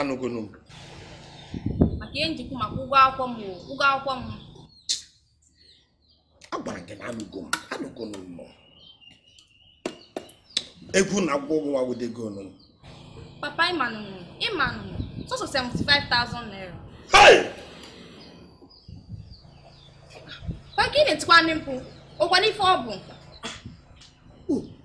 anụgonu m maka ihe m ji ekwu maka ụgwọ akwụkwọ m ụgwọ akwụkwọ m agwara gị na anụgo m anụgonu m egwu na akwụkwọ ụgwọ wawudego nụ papa ịmanụ ịmanụ sọsọ 75,000 naira papa gị na-etikwanụ mkpu ọkwanụ ife ọ bụ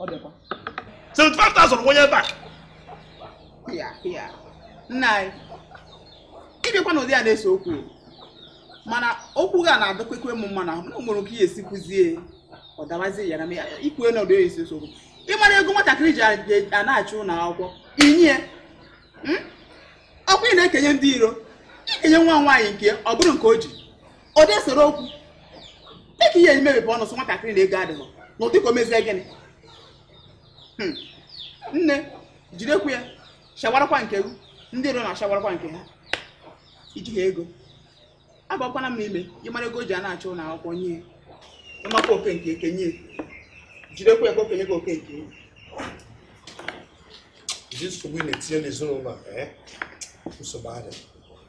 ọ dịkwa 75,000 kwụnye ebe a ya ya nna anyị ịbịakwa n'ụdị a na-ese okwu mana okwu gị a na-adọkwekwe m mma n'ahụ na nwere oke ihe esi kwuzie ọ dawazie ya na m ya ikwue na ụdị ya esi ese okwu ị mara ego nwatakịrị ji a na-achụ ụlọ akwụkwọ i nye hmm? ọkwa ị na-ekenye ndị iro i kenye nwa nwaanyị nke ọ bụrụ nke o ji ọ dị esere okwu dịka ihe i meghepụ ọnụ sị nwatakịrị na ego adịghị na ụdị ka o mezie gịnị Hmm. nne jidekwa ya shawarakwa nke gị ndị iro na-ashawarakwa nke ha i ji ha ego agwakwana m n'ime ị mara ego o ji a na-achụ ụlọ akwụkwọ nye ya. ịmakwa oke nke ekenye ya. jidekwa ya ka o kenye gị oke nke ya. Ụdị nsogbu ị na-etinye n'ezinụlọ a, eh? nsogbu adịghị.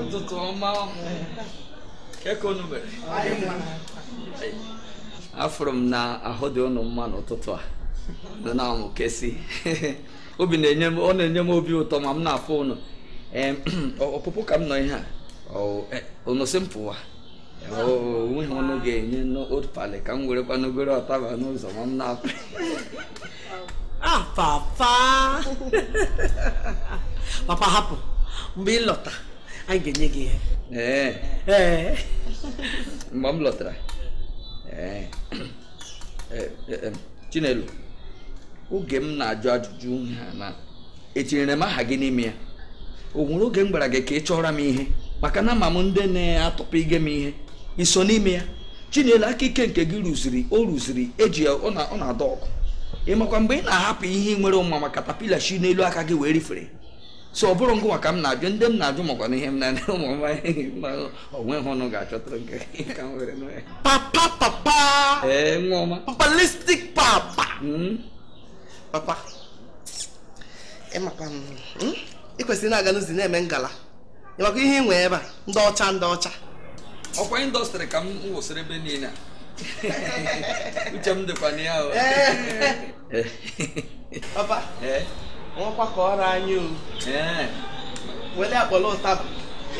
ụtụtụ ọma kee ka ụnụ mere afụrụ m na ahụ dị ụnụ mma n'ụtụtụ a ụnụ na-amụkesi obi na-enye m ọ na-enye m obi ụtọ ma m na-afụ ụnụ ọpụpụ ka m nọ ihe a ụnụ sị m pụwa o nweghị ihe ụnụ ga-enyenụ palị ka m werekwanụ goro ụtaba n'ụzọ ma m na-apụ ah papa papa hapụ mgbe ị lọta anyị ga-enye gị ihe ee ee mgbe m lọtara ee chinelo oge m na-ajụ ajụjụ ha na etinyere m aha gị n'ime ya o nwere oge m gwara gị ka ị chọọra m ihe maka na ama m ndị na-atụpụ ige m ihe i so n'ime ya chinelo aka ike nke gị rụziri o rụziri eji ya ọ na-adị ọkụ ị makwa mgbe ị na-ahapụ ihe ị nwere ụma ma katapila shi n'elu aka gị wee rifere so ọ bụrọ ngịnwa ka m na-ajụ ndị m na-ajụ makwa na ihe m na-anya ụmụ m o nwe ihe ụnụ ga-achọtara nke ka m were papa papa ee nwa ọma papalistik papa hmm? papa ịmakwa hmm? ị kwesịrị na-aga n'ụzọ na-eme ngala ịmakwa ihe ị nwee ebe a ndị ọcha ndị ọcha ọkwa indọstrị ka m wụsịrị ebe niile uche m dịkwa na ya papa nwakwa ka ọrụ anyị o wele akpọla ụtaba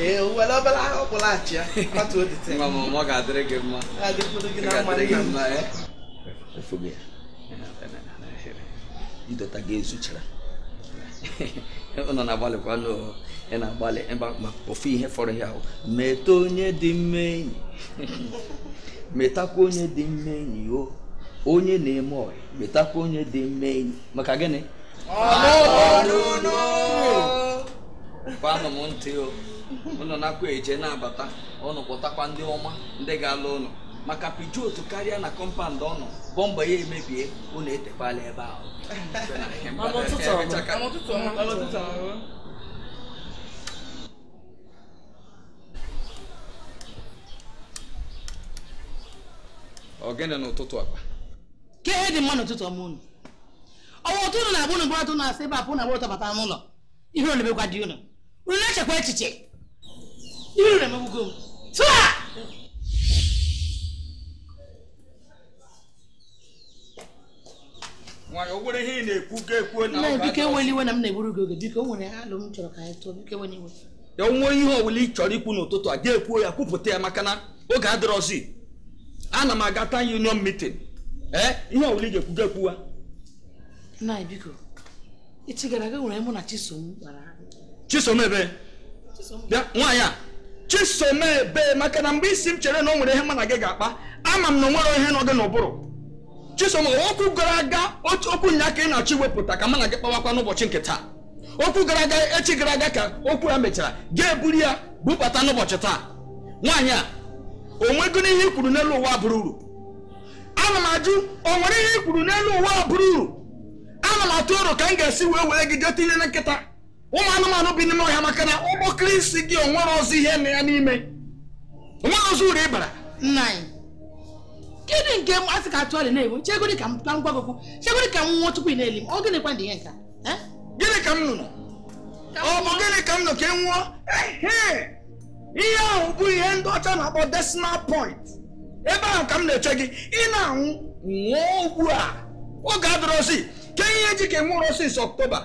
ee wele obere ahụ kpụlaghachi ya kwatu odite ọ ga-adịrị gị mma idota gị ezuchara ụnụ na-agbalịkwanụ ị na-agbalị ịba ma ofu ihe fọrọ ya ahụ meta onye dị mma enyi metakwa onye dị mma enyi o onye na-eme ọyị metakwa onye dị mma enyi maka gịnị kwanụ m ntị o ụnụ na-akwa eje na-abata ụnụ kpọtakwa ndị ọma ndị ga-alụ ụnụ maka Peugeot tekarịa na kọmpand ọnụ bọmba ya emebie unu etekwala ebe ahụ Mama ụtụtụ ọma. Emechaka. Mama ụtụtụ ọma. Mama ụtụtụ ọma. Ogene n'ụtụtụ akpa ka ihe dị mma n'ụtụtụ ọma unu ọwa ụtụtụ na-abụ unu bụrụ atụ na-asị ebe apụ na agbụrụ tọbata n'ụlọ ihe ọ na-emekwa dị unu unu na-echekwa echiche ihe unu na-emegbugo m tụa nna biko eweli iwe na m na-egburu gị oge biko o nwere alo m chọrọ ka anyị tụọ biko eweli iwe ya o nwee ihe ọbụla ị chọrọ ikwu n'ụtụtụ a ga-ekwuo ya kwupụta ya maka na oge adịrọzi ana m aga town union meeting ee eh, ihe ọbụla ị ga-ekwu ga-ekwuwa nna biko echi gara aga o nwere ihe mụ na chisom kpara chisom ebe bịa nwaanyị a chisom ebe maka na mgbe ị sị m chere na o nwere ihe mụ na gị ga-akpa ama m na o nwere ihe nọ gị n'ụbụrụ chisom okwu gara aga otu okwu nya ka ị na-achọ iwepụta ka mụ na gị kpawakwa n'ụbọchị nke taa okwu gara aga echi gara aga ka okwu a mechara ga-eburu ya bubata n'ụbọchị taa nwaanyị a o nwegoro ihe i kwuru n'elu ụwa bụrụ uru ana m ajụ o nwere ihe i kwuru n'elu ụwa bụrụ uru ana m atụ aro ka m ga-esi wee were gị jee tinye na nkịta ụmụ anụmanụ bi n'ime ọhịa maka na ụgbọkịrị isi gị o nwerọzị ihe nọ ya n'ime o nwerọzị uru ị bara nna anyị gịnị nke m asị ka atụ ọrịa na-enwe chegodi ka m ka m gwa gị okwu chegodi ka m nwụọ tupu ị na-eli m ọ gịnịkwa dị ihe nka eh? gịnị ka m nụrụ ọ bụ gịnị ka m nụ ka ị nwụọ Ehe! ihe ahụ bụ ihe ndị ọcha na-akpọ decimal point ebe ahụ ka m na-eche gị ị na-anwụ nwụọ ugbu a oge adịrọzi ke ihe ji ka nwụrọ since ọktoba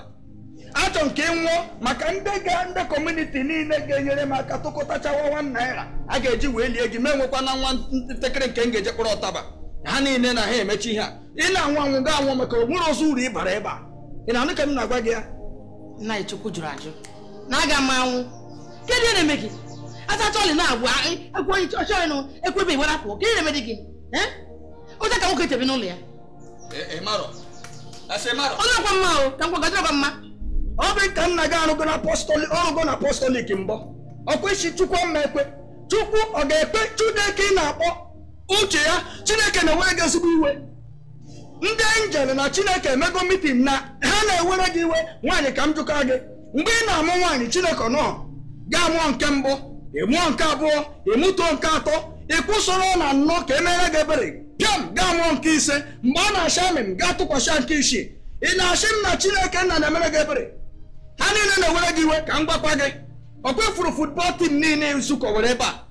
achọ nke nwụọ maka ndị ga ndị kọmuniti niile ga-enyere m aka tụkọtachawa one one naira a ga-eji wee lie gị ma enwekwa na nwa ntakịrị nke m ga-eje kpọrọ ụtaba ha niile na ha emechi ihe a ị na-anwụ anwụ ga anwụ maka o nwerọzị uru ị bara ebe a ị na-anụ ka m na-agwa gị ya nna chukwu jụrụ ajụ na aga m anwụ kedu ihe na-eme gị asacha ọlị na-agwụ egwu onye ọchọ ọnụ ekwu ebe iwere apụ kedu ihe na-eme gị ụta ka nwoke tebe n'ụlọ ya onye ọkwa mma o ka nkwa gajọba mma ọ bụ ka nna gị arụgo na apọstọlik ọrụgo na apọstọlik mbọ ọkwa ị sị chukwu ama ekwe chukwu ọ ga-ekwe chineke ị na-akpọ uche ya chineke na-ewere gị ezigbo iwe ndị angel na chineke emego meeting na ha na-ewere gị iwe nwaanyị ka m jụka gị mgbe ị na-amụ nwaanyị chineke nọ gaa mụọ nke mbụ ị mụọ nke abụọ ị mụtuo nke atọ ị kwụsịrọ na ịnọ ka emere gị ebere pịam gaa mụọ nke ise mgbe a na-asha amị m gaa tụkwasị nke isii ị na-asị m na chineke nna na-emere gị ebere ha niile na-ewere gị iwe ka m gwakwa gị ọ kwa ị fụrụ football team niile nzukọ were ebe a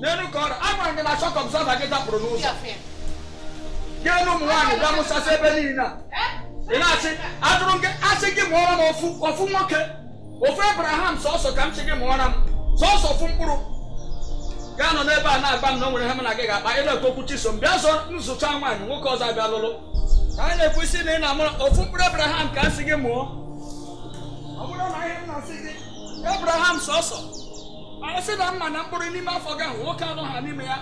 n'elu ka ọrụ agwara gị na shock absorber gị dapụrụ n'ụzọ gị elu ụmụ nwaanyị bịa mụsasị ebe niile a ị na-asị ajụrụ gị asị gị mụọra m ofu ofu nwoke ofu abraham sọsọ ka m sị gị mụọra m sọsọ ofu mkpụrụ ga-anọ n'ebe a na-agwa m na o nwere ihe m na gị ga-akpa ị na-ekwu okwu chisom bịa zọ m zụchaa nwaanyị nwoke ọzọ abịa lụlụ ka anyị na-ekwu ị sị na ị na-amụrụ ofu mkpụrụ abraham ka m sị gị mụọ ọ bụrụ na ihe m na-asị gị abraham sọsọ a sị na m ma na mkpụrụ n'ime afọ gị ahụ nwoke anọha n'ime ya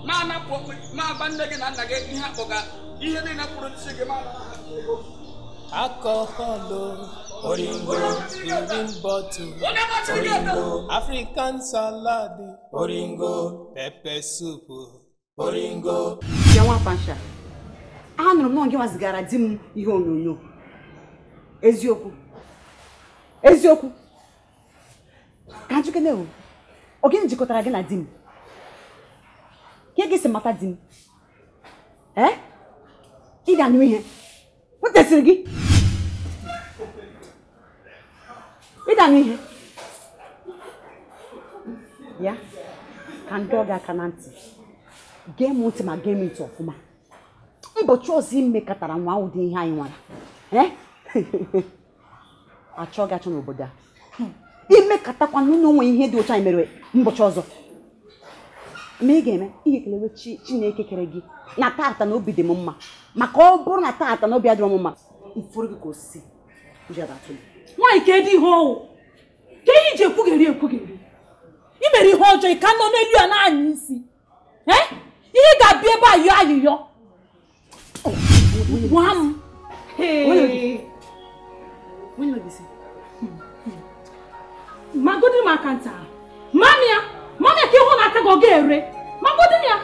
ma anapụ okpe ma agba nne gị na nna gị ihe akpọga ihe niile m kwụrụ n'isi gị ma anara ha ego alcohol oringo green bottle onye machiri gị ebe oringo african salad oringo pepper soup yawa pasha anụrụ m na ọ gịnwa zigara di m ihe onyonyo eziokwu eziokwu ka m jụkene o ọ gịnị jikọtara gị na di m kee gị si mata di m ee ị ga-anụ ihe O tesiri gị. Ị da-anụ ihe. Ya ka m dọọ gị aka na ntị. Gee m ntị ma gee m ntị ọfụma. Ụbọchị ọzọ i mekatara nwaa ụdị ihe a ị nwara. Eh? a chọọ gị achọọ n'obodo a hmm. i mekatakwa nọrọ mee ihe dị otu a i mere mbọchị ọzọ ma ị ga-eme ị ga-ekelewe chineke kere gị na tata na obi dị m mma maka ọ bụrụ na tata na obi adịrọ m mma m fụrụ gị ka osisi nwaanyị kedị ihe ọ wụ kee ihe i ji ekwugheri ekwugheri i mere ihe ọjọọ ị ka nọ n'elu ya na-anya isi eh? ihe ga-abịa ebe a yọọ ayịyọ gwa m magodi m aka nta mami ya mami ya ka ịhụ na aka gị ọ ga-ere magodi m ya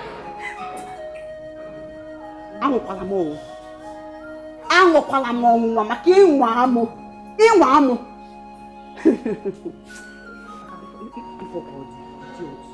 anwakwala m ọnwụ anwakwala m ọnwụnwa maka ị nwaa mụ ị nwaa mụ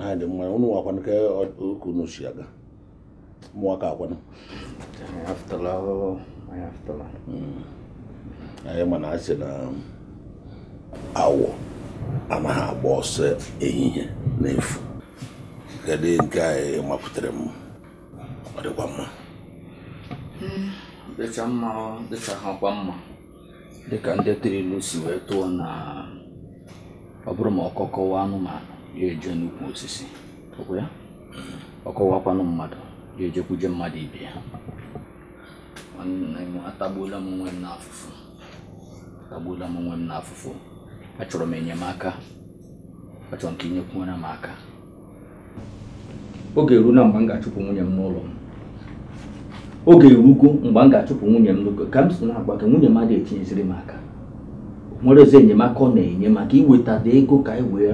ha dị mma ụnụwa kwanụ kee otu unu si aga ụmụaka kwanụ hmm. anyị mana a sị na awọ anaghị agba ọsọ ehihie n'efu kedu nke ị mapụtara m ọ dịkwa mma hmm. dịcha mma dịcha ha kwa mma dịka ndị tiri ilu si wee tụọ na ọ bụrụ ma ọkọ kọwa anụmanụ ya eje n'ukwu osisi ọ kwa ya ọ kọwakwanụ mmadụ ya ejekwuje mmadụ ibe ya atagbuola m onwe m n'afụfụ atagbuola m onwe m n'afụfụ achọrọ m enyemaka achọrọ m ka i nyekwuere m aka oge eruna mgbe m ga-achụpụ nwunye m n'ụlọ m oge erugo mgbe m ga-achụpụ nwunye m n'ụlọ ka m si na-agwa gị nwunye m adịghị etinyeziri m aka o nwerozi enyemaka ọ na-enye maka iwetata ego ka anyị wee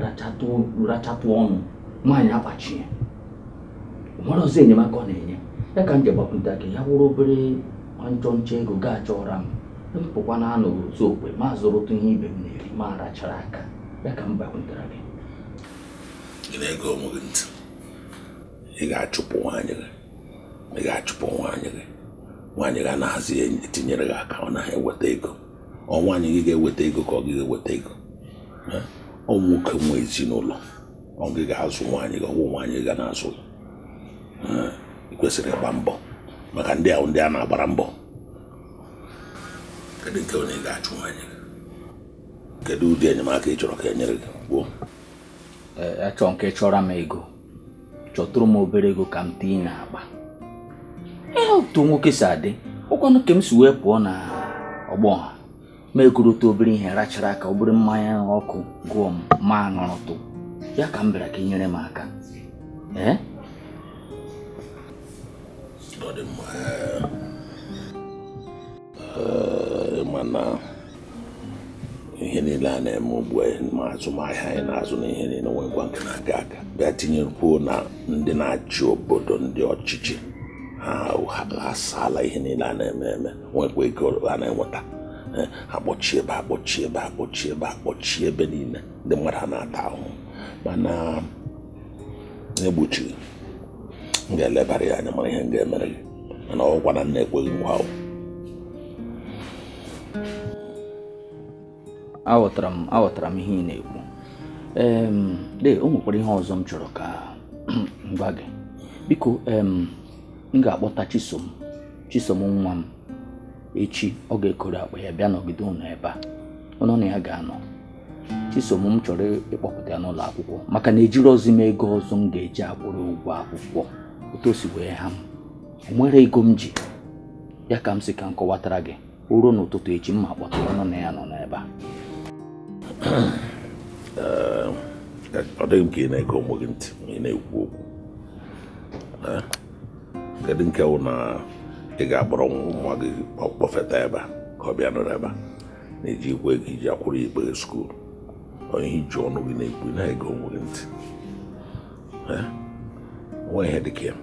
rachatụ ọnụ nwaanyị akpachie o nwerozi enyemaka ọ na-enye ya ka m ji gbakwunta gị ya wụrụ obere nchọ nchọ ego ị ga-achọra m m pụkwa na anọ otu okwe ma zụrụtụ ihe ibe m na-eri ma rachara aka ya ka m gbakwuntara gị ị na-ege onwe gị ntị ị ga-achụpụ nwaanyị gị ị ga-achụpụ nwaanyị gị nwaanyị gị anazị etinyere gị aka ọ naghị eweta ego ọ nwaanyị gị ga-eweta ego ka ọ gị ga-eweta ego ọ nwoke nwe ezinụlọ ọ gị ga-azụ nwaanyị gị ọ wụ nwaanyị gị ga na-azụ ị kwesịrị ịgba mbọ maka ndị a wụ ndị a na-agbara mbọ kedu nke wụ na ị ga-achụ nwaanyị kedu ụdị enyemaka ị chọrọ ka e nyere gị gboo achọ m ka ị chọọra m ego chọtụrụ m obere ego ka m tinye n'akpa ihe otu nwoke si adị ọ kwanụ ka m si wee pụọ na ọgbọ ha m egorote obere ihe rachara aka obere mmanya ọkụ gụọ m m aṅụrụtụ ya ka m bịara ka ị nyere m aka ee ọ dị mma mana ihe niile a na-eme ugbu a ma azụmahịa anyị na-azụ na ihe niile nwekwa nke na-aga aga bịa tinyekwuo na ndị na-achị obodo ndị ọchịchị ha asaala ihe niile a na-eme eme nwekwa ego a na-enweta akpọchi ebe akpọchi ebe akpọchi ebe akpọchi ebe niile ndị mmadụ na-ata ahụhụ mana egbochighị m ga-elebara ya anya mara ihe m ga-emere gị mana ọ wụkwa na m na-ekwe gị nkwa o aghọtara m aghọtara m ihe ị na-ekwu em dee o nwekwara ihe ọzọ m chọrọ ka m gwa gị biko em m ga-akpọta chisom chisom nwa m echi ọ ga-ekoro akpa ya bịa nọgide ụnụ ebe a ụnụ na ya ga-anọ chisom m chọrọ ịkpọpụta ya n'ụlọ akwụkwọ maka na ejirọzi m ego ọzọ m ga-eji akwụrụ ụgwọ akwụkwọ otu o si wee ha m o nwerọ ego m ji ya ka m sị ka m kọwatara gị o ruo n'ụtụtụ echi mụ akpọta ụnụ na ya nọ n'ebe a ọ dịghị m ka ị na-ege onwe gị ntị ma ị na-ekwu okwu kedu nke wụ na ị ga-akpọrọ nwa gị kpọfeta ebe a ka ọ bịa nọrọ ebe a na i jikwaghị ihe i ji akwụrụ ikpe skuul ọ ihe i ji ọnụ gị na-ekwu ị na-ege onwe gị ntị nwa ihe dị ka ya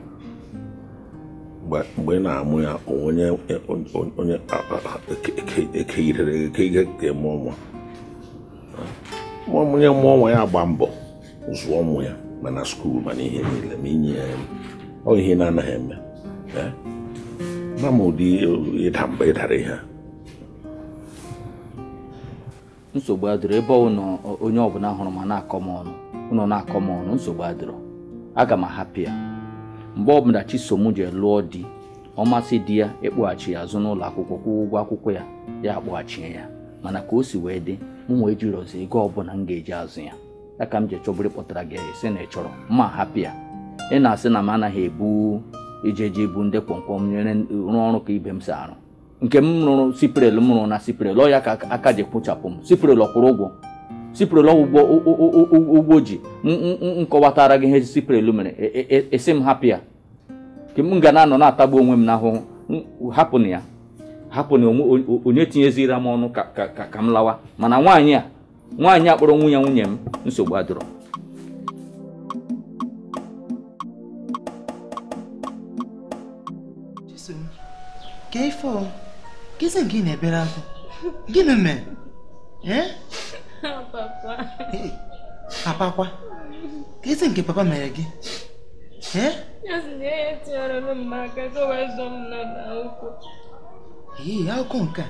mgbe ị na-amụ ya onye onye ekeyirere eke ihe ga-amụ nwa onye mụọ nwa ya agba mbọ zụọ ụmụ ya ma na skuul ma n'ihe niile ma inye ya ọ ihe na-anaghị eme ma ma ụdị ịda mba ịdara ihe nsogbu adịrọ ebe ụnụ onye ọbụla hụrụ m ana-akọ m ọnụ ụnụ na-akọ m ọnụ nsogbu adịrọ aga m ahapụ ya mgbe ọbụla chisom ji lụọ di ọ masị di ya ịkpọghachi ya azụ n'ụlọ akwụkwọ kwụọ ụgwọ akwụkwọ ya ya akpọghachie ya mana ka o si wee dị mụnwa ejirọzi ego ọbụla m ga-eji azụ ya ya ka m ji chọburu kpọtara gị ị sị na ị chọrọ mụ ahapụ ya ị na-asị na m anaghị ebu ije eje ibu ndị kwọmkwọm nyere rụọ ọrụ ka ibe m si arụ nke m rụrụ siprel m rụrụ na siprel ọ ya ka aka ji kpụchapụ m siprel ọ kwụrụ ụgwọ siprel ọgwụgwọ ụgwọ ji m kọwatara gị ihe siprel mere ị sị e, e, e, m hapụ ya nke m ga na-anọ na-atagbu onwe m n'ahụhụ hapụ na ya hapụ na onye tinyezira m ọnụ ka m lawa mana nwaanyị a nwaanyị a kpọrọ nwunye nwunye m nsogbu adịrọ kee ife kezi nke ị na-ebere akwa gịnị mee papa kwa kezi nke papa mere gị ee akụkọ nke a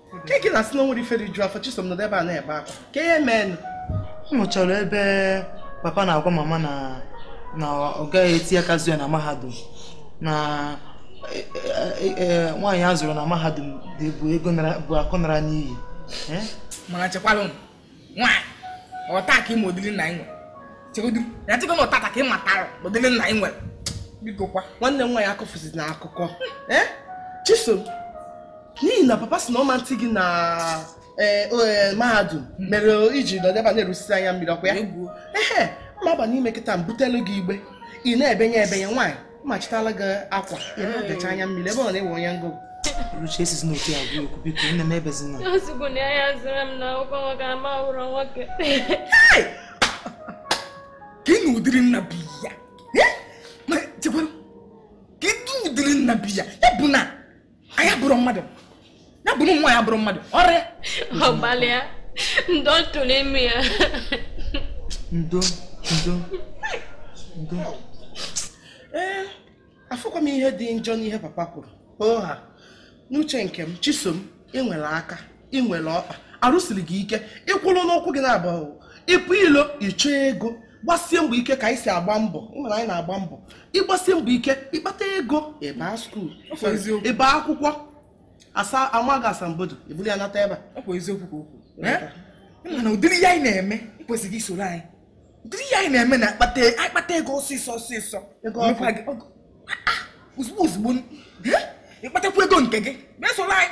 ka eke na-asị na o nwere ife riju afọ chisom nọdụ ebe a na-ebe akwa kee ihe meenụ ọ nụchara ebe papa na-agwa mama na na ọ gaghị eti aka zụọ ya na mahadum na e, e, e, nwaanyị a zụrụ na mahadum bụ ego bụ akụ nara n'iyi mana chekwalụ nwaanyị ọ taa ka ị ma ụdịrị nna anyị nwere chegodu ya chego na ọ taataa ka ị matara ụdịrị nna anyị nwere biko kwa nwanne m nwaanyị akọfụzina akụkọ eh? chisom n'ihi na papa sị na ọ ma-eti gị na eh, eh, mahadum hmm. mere i ji nọ ebe a na-erusisi anya mmiri ọ kwa ya ee mụ aba n'ime kịta m butelu gị igbe ị na-ebenye ebenye nwaanyị machitala gị akwa ya na ọdacha anya mmiri ebe ọ na-ewe onye ngụ Luchi esizi n'otu ya gwa okwu biko nne m ebezina o zugo na ya zụrụ m na akwụkwọ nwoke ama ụrọ nwoke ka ị na ụdịrị nna bi ya ma chekwara ka ịdị ụdịrị nna bi ya ya bụ na anyị abụrụ mmadụ ya bụ na nwa ya bụrụ mmadụ ọrịa ọgbalịa ndo tụrụ ime ya ndo ndo ndo ee afụkwa m ihe dị njọ n'ihe papa kwuru ọ ha n'uche nke m chisom ị nwere aka ị nwere ọkpa arụ siri gị ike ịkwụrụ n'ụkwụ gị naabọ ịpụ ilo ịchọ ego gbasie mbọ ike ka anyị si agba mbọ ịmara anyị na-agba mbọ ịgbasie mbọ ike ịkpata ego ịba skuul ịba akwụkwọ asa amaghị asambodo ibulu ya nata ebe a na ụdịrị ihe anyị na-eme ị kwesịrị isoro anyị ụdịrị ihe anyị na-eme na-akpata ego ọsịsọ ọsịsọ ozugbo ozugbo ịkpatakwa ego nke gị mesoro anyị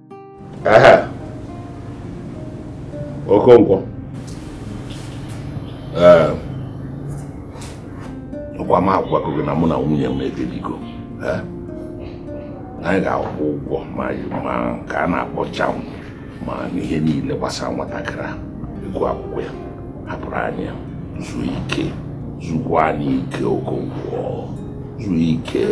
Okonkwo ọkwa m agwago gị na mụ na nwunye m ekpebigo anyị ga-akwụ ụgwọ ma nke a na-akpọ JAMB ma n'ihe niile gbasara nwatakịrị ahụ ego akwụkwọ ya hapụrụ anyị zuo ike zukwanụ ike okonkwo zuo ike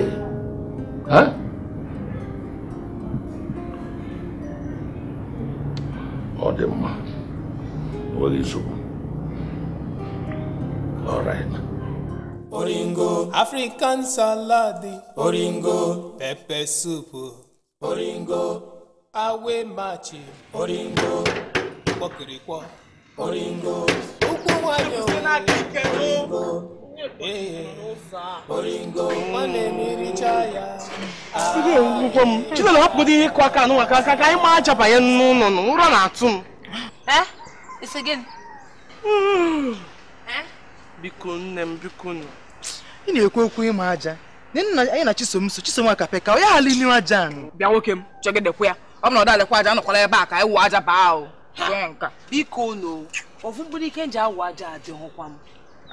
ọ dị mma enweghị nsogbu all right oringo african salad oringo pepper soup oringo awe machi oringo kpọkịrịkpọ Chinelo hapụgodị ihe ịkụ aka anụnwa ka ka anyị maa aja banye n'ụlọ nụ ụra na-atụ m ị sị gịnị? biko nne m biko nụ ị na-ekwu okwu ịma aja anyị na chisom so chisom aka peka onye ghara inu aja bịa nwoke m chọgidekwa ya ọ bụ na ọ dalekwa aja anọkwala ebe a ka anyị wụ aja baa ahụ biko unu ofu mkpụrụ ike m ji awụ aja adịghịkwa m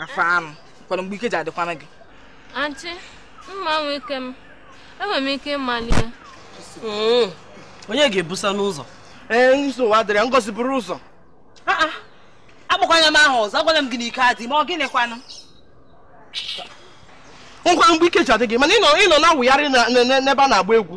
afọ anụ kwara mgbe ike ji adịkwanụ gị anti mma nwe ike m enwere m ike ịmali ya hmm. onye ga-ebuzianụ ụzọ ee nsogbu adịrọ ya ngozi buru ụzọ ah, ah. akpọkwana m aha ọzọ agwala m gị na ike adịghị m ọ gịnịkwanụ ngwa mgbe ike ji adị gị mana ịnọ na-awụgharị n'ebe a na-agba egwu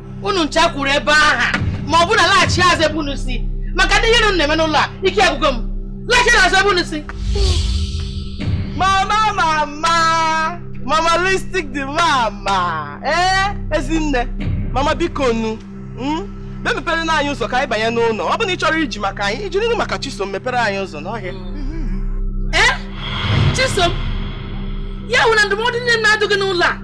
unu ncha kwuru ebe ahụ ma ọ bụ unu alaghachi azụ ebe unu si maka ụdị ihe unu na-eme n'ụlọ a ike agwụgo m laghachi azụ ebe unu si mama mama mama listik dị mama ee eh, ezinne mama biko nu hmm? bịa mepere nụ anyị ụzọ ka anyị banye n'ụlọ ọ bụ na ị chọrọ iji maka anyị iji n'ihi maka chisom mepere anyị ụzọ n'ọhịa ee eh? chisom ya wụ na ndụmọdụ niile m na-adụ gị n'ụlọ a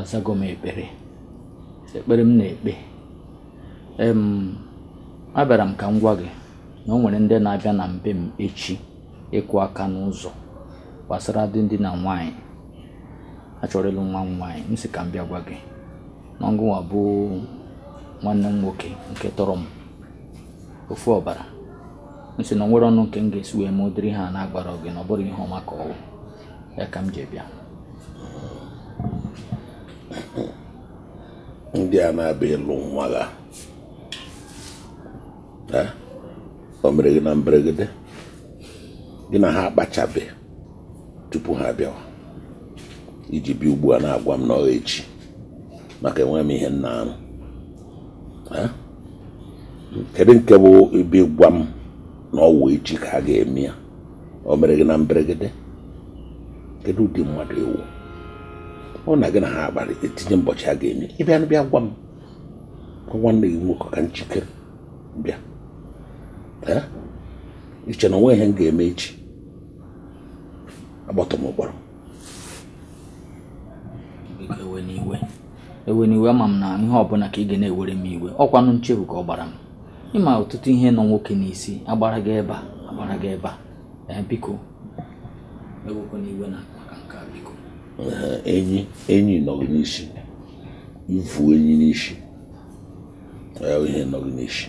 azago m ekpere ekpere m na-ekpe abịara m ka m gwa gị na o nwere ndị na-abịa na mbe m echi ịkụ aka n'ụzọ gbasara di di na nwaanyị a chọrọ ịlụ nwa m nwaanyị m sị ka m bịa gwa gị na gịnwa bụ nwanne m nwoke nke tọrọ m ofu ọbara m sị na o nwerọ ọnụ nke m ga-esi wee mee ụdịrị ihe a na agwarọ gị na ọ bụrọ ihe ọma ka ọ wụ ya ka m ji bịa ndị a na-abịa ịlụ nwa gị o mere gị na mberegede gị na ha akpachabe tupu ha abịawa i ji bịa ugbu a na-agwa m na ọ echi maka enweghị m ihe m na-arụ kedu nke bụ ịbịa gwa m na ọ wụ echi ka a ga-eme ya o mere gị na mberegede kedu ụdị mmadụ ị wụ ọ na gị na ha akparịa tinye mbọchị a ga-eme ị bịanụ bịa gwa m gwa nwanne gị nwoke ka m jikere bịa Ee? i che na o nweghị ihe m ga-eme echi agbọtọ m ụkpọrọ Biko, ewena iwe ewena iwe ama m na ihe ọbụla ka ị ga na-ewere m iwe ọ kwanụ nchefu ka ọ gbara m ị ma ọtụtụ ihe nọ nwoke n'isi a gbara gaa ebe a a gbara gaa ebe a ee eh, biko ewekwana iwe na maka nke a biko enyi enyi nọ gị n'isi i vu enyi n'isi ya ihe nọ gị n'isi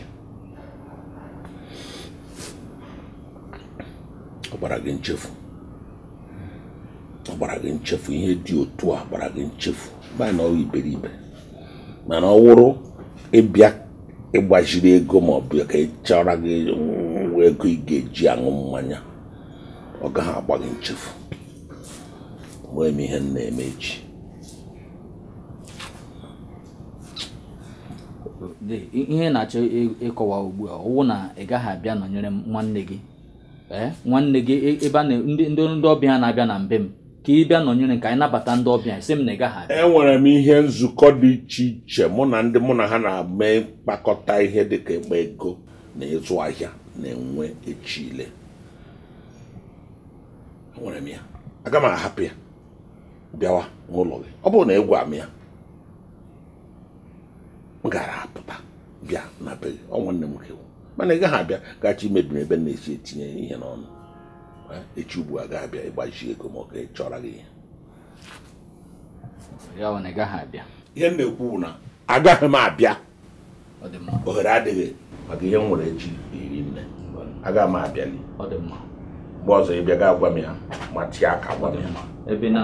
ọ gbara gị nchefu ọ gbara gị nchefu ihe dị otu a gbara gị nchefu maka na ọ wụ iberibe mana ọ wụrụ ịbịa ịgbaziri ego ma ọ bụ ka a chọọrọ gị nwa ego ị ga-eji aṅụ mmanya ọ gaghị agba gị nchefu enwere m ihe m na-eme echi Dee, i- ihe ị na-achọ ị- ịkọwa ugbu a ọ wụ na ị gaghị abịa nọnyere m nwanne gị ee nwanne gị e- ebe a na ndị ndị ndị ọbịa na-abịa na mbe m ka ị bịa nọnyere ka anyị nabata ndị ọbịa sị m na ị gaghị abịa enwere m ihe nzukọ dị iche iche mụ na ndị mụ na ha na-eme mkpakọta ihe dịka ịkpa ego na ịzụ ahịa na-enwe echi ile enwere m ya aga m ahapụ ya bịawa n'ụlọ gị ọ bụrụ na ị gwa m ya m gara apụta bịa na be gị ọ nwanne m nwoke mana ị gaghị abịa gachi imebi m ebe m na-esi etinye ihe n'ọnụ echi ugbu a ga-abịa ịgbaji ego ma ọ ga chọrọ gị ihe ya ọ na ị gaghị abịa ihe m na-ekwu na agaghị m abịa ohere adịghị maka ihe m nwere echi riri nne agaghị m abịa ọ dị mma mgbe ọzọ ị bịa ga agwa m ya ma tee aka gwa m ya ebe na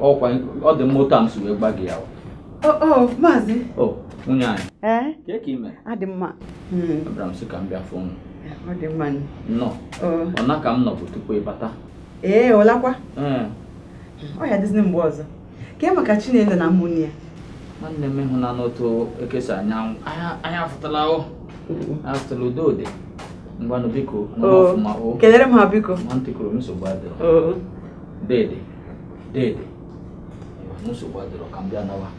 ọkwa ọ dị mma otu a m si wee gba gị ya maazị nwunye anyị kee ka ị mee adị m mma abịara m sị ka m bịa fụ unu Ọ dị mma. Nnọọ. Ụna ka m nọbu tupu ị bata. Ee, ụlakwa. Ọ ya-adịzi mgbe ọzọ. Kee maka Chinelo na ụmụnne ya. Nwanne m ịhụ na n'otu ekesa anyanwụ. Anyị afụtala o. Afụtala udo dị. Ngwanụ biko, nọ ọfụma o. Kelere m ha biko. Nwantị kwuru m nsogbu adịrọ. Deede, deede. Nsogbu adịrọ ka m bịa nawa.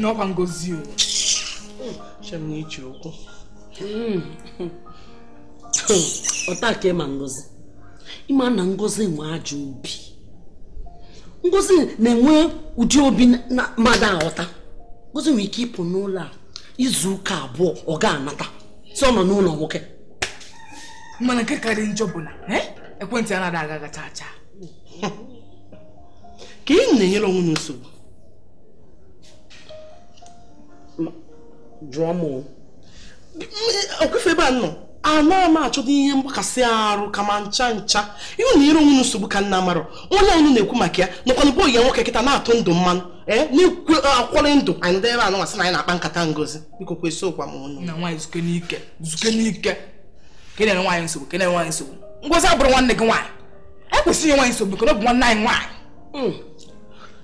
na ọ kwa ngozi e che m na i ji okwu ọ taa ka ị ma ngozi ị ma na ngozi nwe ajọ obi ngozi na-enwe ụdị obi na mmadụ aghọta ngozi nwere ike ịpụ n'ụlọ a izu ụka abụọ ọ ga-anata sị ọ nọ n'ụlọ nwoke mana nke karị njọ bụ na eh, ekwentị ya anaghị aga chaa chaa kee ihe m na-enyere onwe m nsogbu jụọ m ọkwefe ebe a nọ anaghị m achọdụ ihe mgbakasị arụ kama ncha ncha ihe unu nyere onwe unu nsogbu ka unu amarọ onye unu na-ekwu maka ya nọkwa na be enyi nwoke kịta na-ete ndụ mmanụ ee na-ekpori ndụ anyị ndị ebe anụnwa sị na anyị na-akpa nkata ngozi biko kwụsị ịkwa m ọnụ na nwaanyị zukene ike zukene ike ka anyị na-enye onwe anyị nsogbu ka anyị na-enye onwe anyị nsogbu ngozi abụrụ nwanne gị nwaanyị ekwesịghị nwaanyị nsogbu ka ọ bụ nwanne anyị nwaanyị hmm.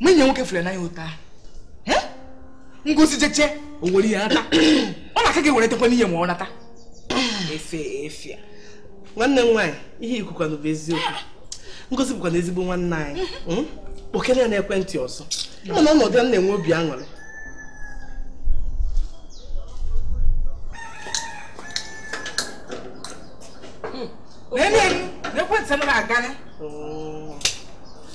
ma enyi nwoke fụrụ n'anya ụta ngozi jechaa o were ihe nata ọ na-aka gị were tekwa n'ihe ma ọ nata efe efe nwanne m nwaanyị ihe i kwukwanụ bụ eziokwu ngozi bụkwa na ezigbo nwanne anyị hmm? kpọkene ya n'ekwentị ọzọ ị ma na ọnọdụ ya na-enwe obi aṅụrị hmm. n'ekwentị m na-aga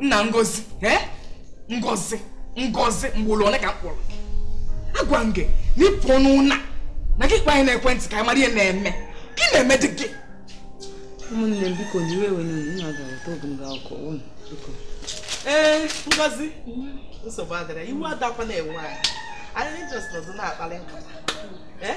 nna ngozi eh? ngozi ngozi ugbolo ole ka m kpọrọ agwa m gị na ịpụ ọnụ na na gị kpọọ anyị n'ekwentị ka anyị mara ihe na-eme gị na-eme di gị ụmụnne m biko n'iwe ewena unu ga-aweta ogologo akụkọ unu biko ee eh, ngozi nsogbu adịrọ iwe adakwa na-ewe anyị anyị just nọdụ na-akpali nkata eh?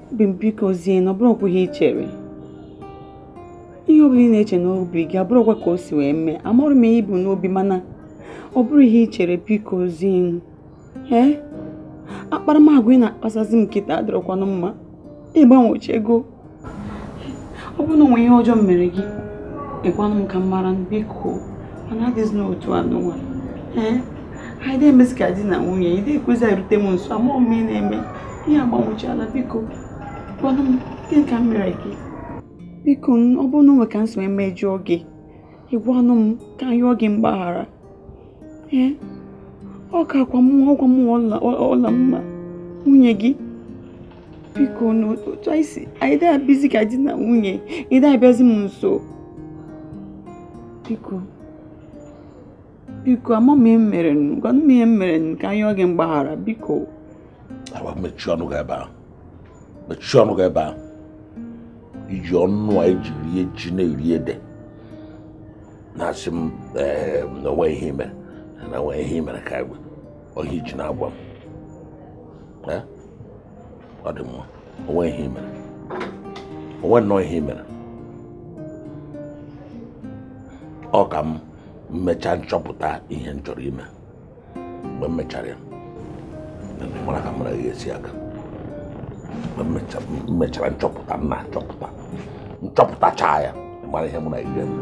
obi m bikozienụ ọ bụrọkwa ihe i chere ihe ọbụla ị na-eche n'obi gị abụrọkwa ka o si wee mee amarọ m ihe i bu n'obi mana ọ bụrọ ihe i chere bikozienụ ee akparamagwa ị na-akpasozi m kịta adịrọkwanụ mma ị gbanwechago ọ bụrụ na o nwe ihe ọjọọ m mere gị ị gwanụ m ka m mara biko mana adịzi n'otu anụnwa ee anyị ada emezi ka di na nwunye ị da ekwezi erute m nso amarọ m ihe na-eme ị gbanwechaala biko gwanụ m gịnị ka m mere gị biko ọ bụrụ na o nwe ka m si mejọọ gị ị gwanụ m ka m yọọ gị mgbaghara ee ọ kwa m ọ kwa m ọlamma nwunye gị biko n'otu anyị si anyị ada ebizi ka di na nwunye ị da abịazi m nso biko biko amaghị m ihe m merenụ gwanụ m ihe m merenụ ka m yọọ gị mgbaghara biko awa mechie ọnụ gị ebe ahụ mechie ọnụ gị ebe ahụ i ji ọnụ a i ji eri ji na-eri ede na-asị m na o nwe ihe i mere na o nwe ihe i mere ka egbe ohi ji na-agwa m ọ dị mma o nwe ihe i mere o nwe nnọọ ihe i mere ọ ka m mechaa nchọpụta ihe m chọrọ ime mgbe m mechara ya mara ka mụ na gị esi aka mgbe m mechara nchọpụta m na-achọpụta m chọpụtachaa ya mara ihe mụ na gị ga-eme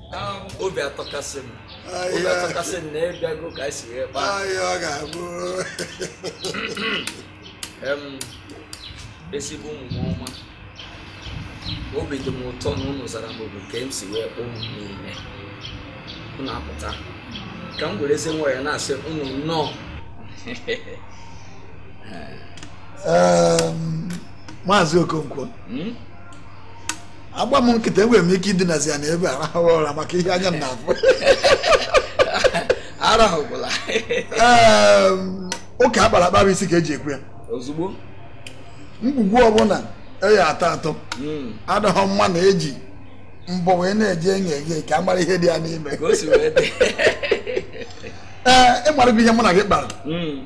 obi atọkasị m obi atọkasị m na ị bịago ka anyị si wee kpaa ahịa ọ ga-abụ Em, ezigbo ụmụnne m ọma obi dị m ụtọ na unu zara m oku ka m si wee kpọọ unu niile unu apụta ka m werezie nwayọ na-asị unu nnọọ Em, maazị okonkwo Hmm? agba m nkịtị enwere m ike idinazi ya na ebe a rahụrụ ụra maka ihe anya m na-afụ arahụkwala ụka akpara akpa isi ka eji ekwe ya ozugbo ngwugwu ọbụla a ya-atọ atọ hmm. adịghị mma na eji mbọ wee na-eji enye eghe ka a mara ihe dị ya n'ime ee ị marago ihe mụ na gị kpara hmm.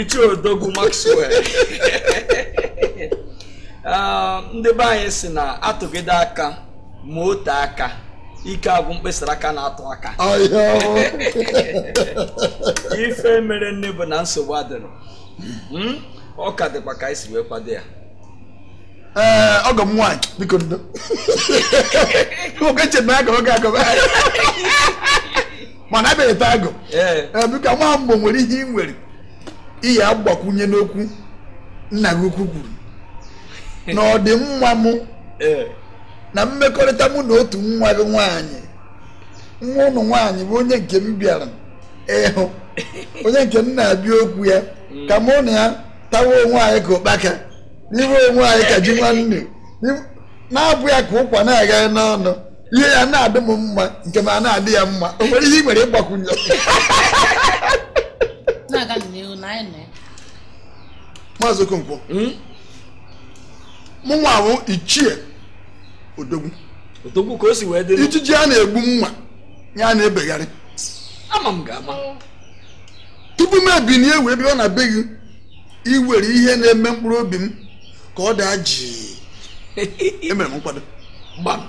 ichie odogwu Maxwell ah, ndị be anyị si na atụgide aka ma o tee aka ike agwụ mkpịsị aka na-atụ aka ife mere nne bụ na nsogbu adịrọ hmm? ọ ka dịkwa ka anyị si wee kwado ya ee eh, ọgọ m nwaanyị biko ndo nwoke chere na agọrọ gị agọrọ mana abịaghị taa agụ biko nwa mgbo nwere ihe ị nwere ị ya-agbakwunye n'okwu nna gị ukwu kwuru na ọdịmma m na mmekọrịta mụ na otu nwa gị nwaanyị nwa ụnụ nwaanyị bụ onye nke m bịara ịhụ onye nke m na-abịa okwu ya mm. ka mụ na ya tawa onwe anyị ka ụkpaka riwe onwe anyị ka ji nwanne na-abụ ya ka ụkwa na-agaghị n'ọnụ ihe ya na-adị m mma nke ma na-adị ya mma o nwere ihe ị nwere ịgbakwunye na-aga n'ihu na anyị na maazị okonkwo hmm? mụ nwa ahụ ichie odogwu odogwu ka o si wee dịrị ijiji a na-egbu mma ya na-ebegharị ama m ga-ama tupu m ebinie wee bịa na be gị iwere ihe na-eme mkpụrụ obi m ka ọ daa jii emere m nkwado gbam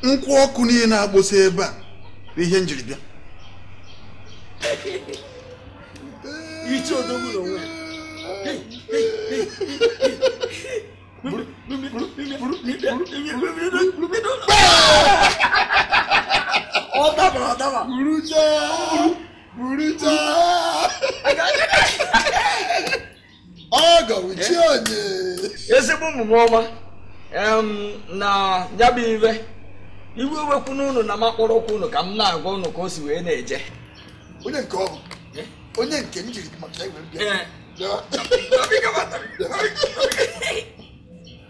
nkwụ ọkụ niile na-agbụsị ebe a bụ ihe njiri bịa ichie odogwu n'onwe ya ọ dabara adaba ezigbo ụmụ m ọma na ya bụ iwe iwe ewekwana ụnụ na m akpọrọkwu ụnụ ka m na-agwa ụnụ ka o si wee na-eje onye nke ọ bụ eh? onye nke m jiri maka ya wee bịa eh.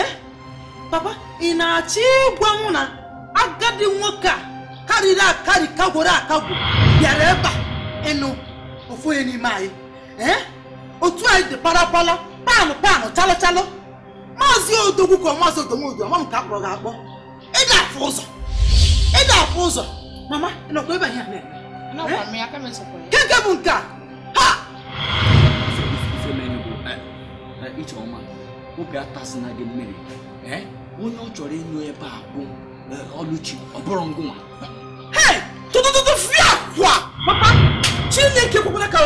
eh? papa ị na-achọ ịgwa m na agadi nwoke a karịrị akarị kagworo akagwo bịara ebe a ịnụ ofu onye n'ime anyị eh? otu anyị dị parapara panụ panụ chalụ chalụ maazị odogwu ka maazị odomodu ama m ka akpọrọ gị akpọ ịda afụ ụzọ ịda afụ ụzọ mama ị nọkwa ebe anyị na-eme keke bụ nke a ha ijeọma obi atasịna gị mmiri onye ọ chọrọ ịnụ ebe a bụ ọlụchi ọ bụrọ ngịnwa tụ tụ tụ tụfịakwa papa chineke ekwekwala ka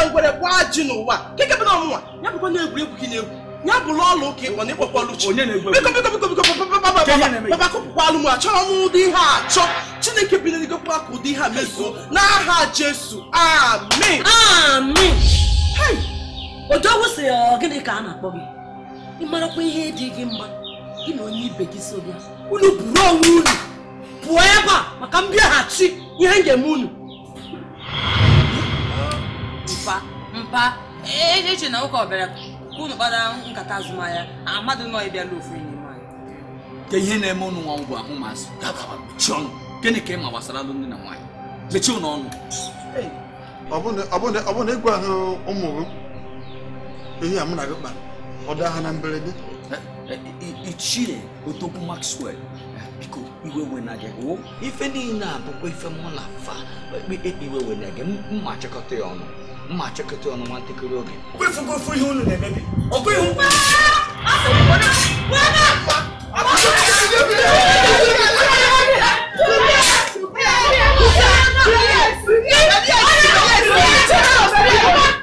ngwere gbaa ajị n'ụwa keke bụ na ọ mụnwa ya bụkwa na egwuregwu ka ị na-egwu ya bụrụ ọlụ ụka ịkpọ na ịkpọkwa Ọlụchi Onye na-egwu biko biko biko biko papa, papa, papa, Ka ihe na-eme papa, papa kụpụkwa alụ m achọrọ m ụdị ihe a achọ chineke bi n'eluigwe ekwena ka ụdị ihe a mezuo n'aha jesu amen Amị! Hei! Odogwu sị ọ gịnị ka a na-akpọ gị? Ị marakwa ihe dị gị mma gị na onye ibe gị so bịa. Unu buru onwe unu pụọ ebe a maka m bịaghachi ihe m ga-eme unu. mpa mpa eche m na nwoke a bịara ka unu kpara nkata azụmahịa amadị m na ọ bịara ịlụ ofu n'ime anyị kee ihe na-eme unu nwa ngwa ụmụazị gagawa mechie ọnụ gịnị ka ị ma gbasara alụmdi na nwaanyị mechie unu ọnụ ọ bụ na ị gwahụ ụmụ gị ihe a mụ na gị kpara ọ daa ha na mberede ichie odogwu maxwell biko iwe wena gị o ife niile a bụkwa ife mụ na fa iwe wena gị m ma-achịkọta ya ọnụ m ma-achịkọta ya ọnụ nwa ntakịrị oge kwefugo ofu ihe unu na-emebi okwu ihu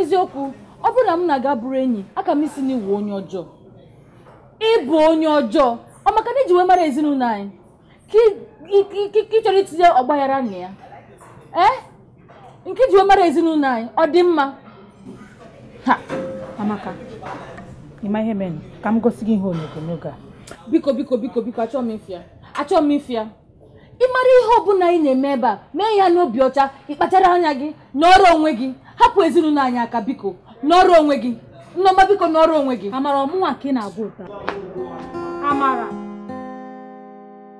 eziokwu ọ bụrụ na mụ na gị abụrọ enyi aka m ịsị na ị wụ onye ọjọọ ị bụ onye ọjọọ ọ maka na i ji wee mara ezinụlọ anyị ka ị chọrọ itinye ọgbaghara na ya ee eh? nke i ji wee mara ezinụlọ anyị ọ dị mma ha amaka ị ma ihe mere ka m gosi gị ihe onyonyo a biko biko biko biko achọọ m ịfụ ya achọọ m ịfụ ya ị mara ihe ọbụla anyị na-eme ebe a mee ya n'obi ọcha ị kpachara anya gị nọrọ onwe gị hapụ ezinụlọ anyị aka biko nọrọ onwe gị nneọma biko nọrọ onwe gị amara ọ mụnwa ka ị na-agwa otu a amara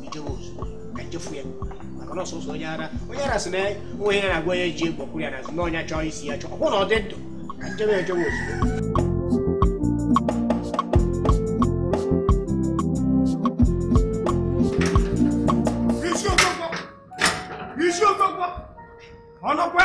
bidowe ozugbo ka m jee fụ ya maka na ọ sọsọ onye ara onye ara sị na enwe ihe ọ na-agwa onye ji egbe kwụrụ ya n'azụ na ọ nya chọọ isi ya chọọ ọ bụrụ na ọ dị ndụ ka m jebe ejewe ozugbo isi okpokpo isi okpokpo ọnụkwa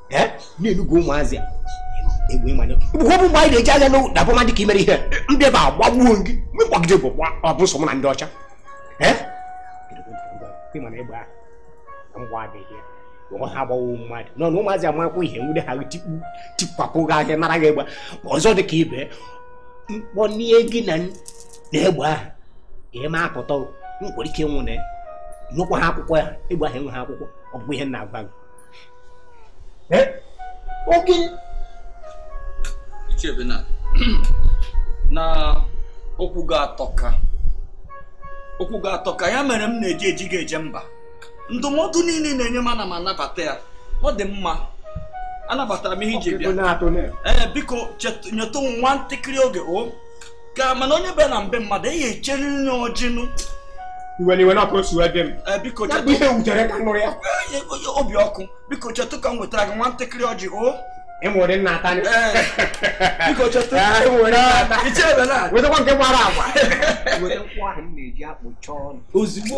eh? na-enugwu ụmụazị a egbe ịmanye bụkwa bụ mgbe anyị na-eji anya na ọ bụ mmadụ ka i mere ihe ndị ebe a agbagbuo gị mekpọgide bụ ọ bụ nsogbu na ndị ọcha eh? ha agbawo mmadụ nọ na ụmụazị amakwa ihe nwude ha tikpu tikpapụ gị ahịa nara gị egbe ọzọ dị ka ibe mkpọnie gị na egbe ahụ ị ma apụta nkwere ike nwụne nụkwa ha akwụkwọ ya egbe ahụ enwe ha akwụkwọ ọ bụ ihe na-agwa gị Eh? Oke. Ichebe na na okwu gị atọka okwu gị atọka ya mere m na-eji eji gị eje mba ndụmọdụ niile ị na-enye m ana m anabata ya ọ dị mma anabatara m ihe iji bịa ee eh, biko nyetụ nwa ntakịrị oge o oh. ka ma na onye bịa na be mmadụ eyi echere ya ọjị nụ iwe na iwe na ọkụ o si wee dị m eh, biko ya bụ ihe wutere m ka m nụrụ ya eh, eh, obi ọkụ biko chetụ ka m wetara gị nwa ntakịrị ọjị o enwere nna ata biko chetụ enwere ata ichebe na wetakwa nke gbara agwa ozugbo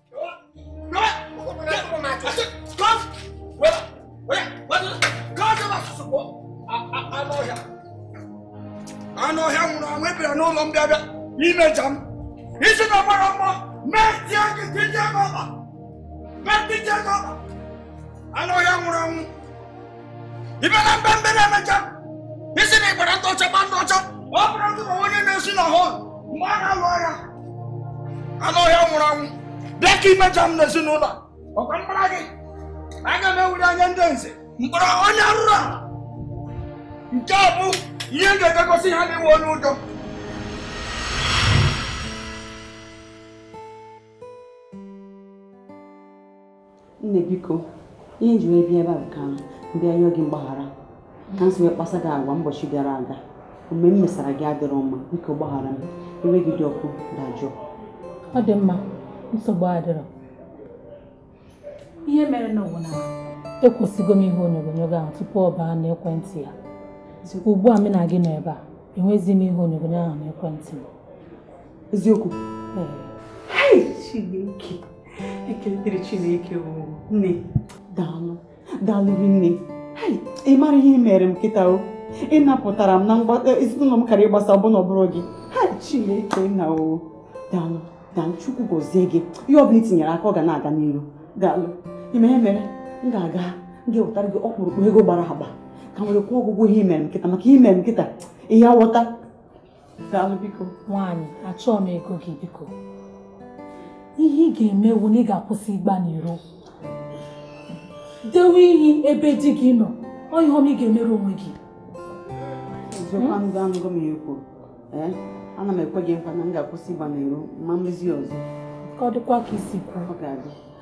anụ ọhịa nwụrụ anwụ ị bịara n'ụlọ m bịa bịa imeja m isi na mara mma mee tie gị tie gị ọba mee tie gị ọba anụ ọhịa nwụrụ anwụ ibe na mbe mbe na-emeja i si na ị gbara ndị ọcha gba ndị ọcha ọ bụrụ ndị ma onye na-ezo na hole mgbe a na-alụ agha anụ ọhịa nwụrụ anwụ bịa ka i meja m n'ezinụlọ ọ kwa mkpara gị aga m ewere ya nye ndị nze mkpọrọ onye arụrụ a nke a bụ ihe m ga-eji egosi ha na ị wụ onye ụjọ nne biko ihe m ji wee bịa ebe a bụ ka m bịa yọọ gị mgbaghara ka m si wee kpasa gị agwa ụbọchị gara aga omume m mesara gị adịrọ mma biko gbaghara m iwe gị dị ọkụ dajụọ ọ dị mma nsogbu adịrọ ihe merenụ wụ na ekwụsịgo m ihe onyonyo gị ahụ tupu ọ baa n'ekwentị ya ugbu a m na gị nọ ebe a enwezi m ihe onyonyo ahụ n'ekwentị m eziokwu chineke ekele dịrị chineke nne daalụ daalụ nne ị mara ihe i mere m kịta o ị napụtara m na e, ezinụlọ m ka ọ ghara ịgbasa ọ bụ na ọ bụrọ gị ha chineke nna o daalụ daalụ chukwu gọzie gị ihe ọ bụla i tinyere aka ọ ga na-aga n'iru daalụ ị ma ihe mere m ga-aga m ga-ewetara gị ọkpụrụkpụ ego gbara agba ka m were kwụọ gị ụgwọ ihe i mere m kịta maka i mere m kịta ihe awọta daalụ biko nwaanyị achọọ m ego gị biko ihe ị ga-eme wụ na ị ga-akwụsị ịgba n'iro dewe ihu ebe di gị nọ ọ ihe ọma ị ga-emere onwe gị eziokwu anụgo anụgo m ihe i kwuru ee ana m ekwe gị nkwa na m ga-akwụsị ịgba n'iro ma m mezi ọzọ ka ọ dịkwa ka i si kwuo ọ ga-adị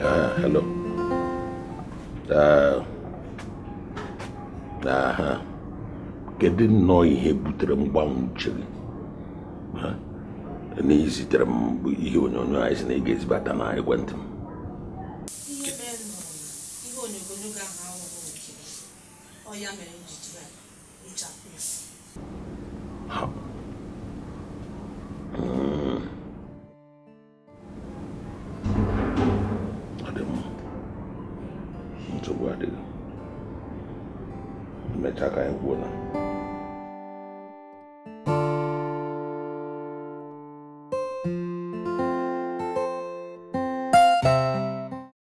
Ah, hello. Ah, ah, kedu nnọọ ihe butere mgbanwe uche gị na izitere m bụ ihe onyonyo anyị si na ị ga-ezibata na ekwentị m ịchapụ isi nsogbu adịghị mechaa ka anyị kwuo na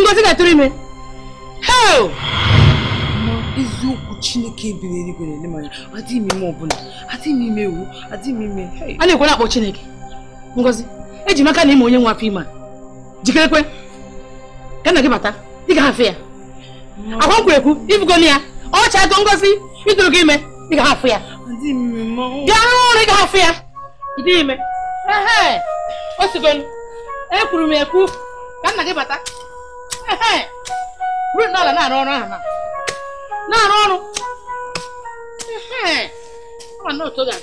ngozi ga-atụrụ ime hei eziokwu chineke bi n'eluigwe na-ele m anya adịghị m ime ọbụla adịghị m ime ewu adịghị m ime a na-ekwu ị na-akpọ chineke ngozi eji m aka na ị ma onye nwe afọ ime a jikerekwe ka nna gị bata ị ga-afụ ya ọkwa m kwuru ekwu ị fụgo ya ọ chago ngozi ị tụrụgo ime ị ga-afụ ya bịa rụọ ọrụ ị ga-afụ ya dị ime o sigonu ekwuru m ekwu ka nna gị bata ruo n'ala na-arụ ọrụ ahụ na na-arụ ọrụ ọ na otu ga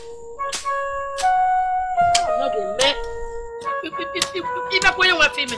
ọ ga-eme ị makwa onye nwe afọ ime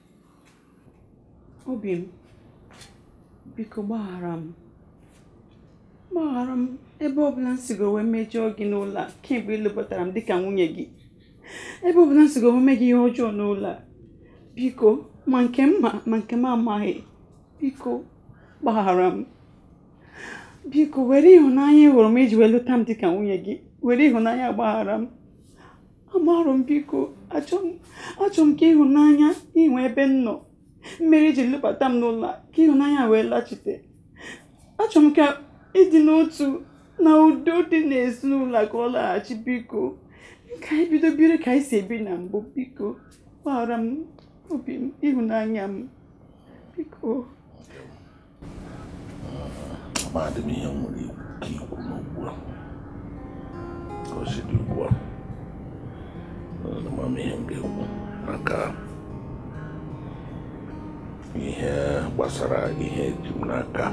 obi m biko gbaghara m gbaghara m ebe ọbụla m sigo wee mejọọ gị n'ụlọ a kemgbe ị lụbatara m dịka nwunye gị ebe ọbụla m sigo wee mee gị ihe ọjọọ n'ụlọ a biko ma nke m ma ma nke m amaghị biko gbaghara m biko were ịhụnanya ị hụrụ m i ji wee lụta m dịka nwunye gị were ịhụnanya gbaghara m amarụ m biko achọ m ka ịhụnanya i nwe ebe m nọ mere i ji lụbata m n'ụlọ ka ịhụnanya wee lachite achọ m ka ịdị n'otu na udo dị n'ezinụlọ ka ọ laghachi biko ka anyị bido biri ka anyị si ebi na mbụ biko gbaghara m obi m ịhụnanya m biko Amadị m ihe m nwere ike ikwu n'ugbu a ka o si dị ugbu a ama m ihe m ga-ekwu maka ihe gbasara ihe eji m n'aka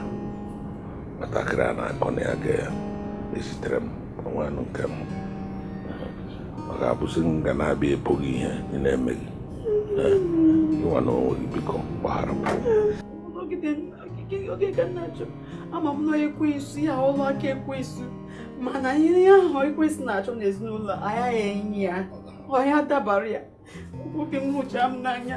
nwatakịrị a na-akọ na ya ga-ezitere m onwe anụ nke m ọ ga-abụzi m ga na-abịa ekpughe ihe ị na-eme gịnwa na onwe gị biko gbaghara m nọgide oge ka nna achọ ama m na ekwensu ya ọrụ aka ekwensu mana ihe ahụ ekwensu na-achọ n'ezinụlọ anyị a ya-enyi ya ọ ya-adabara ya obi m hụcha m n'anya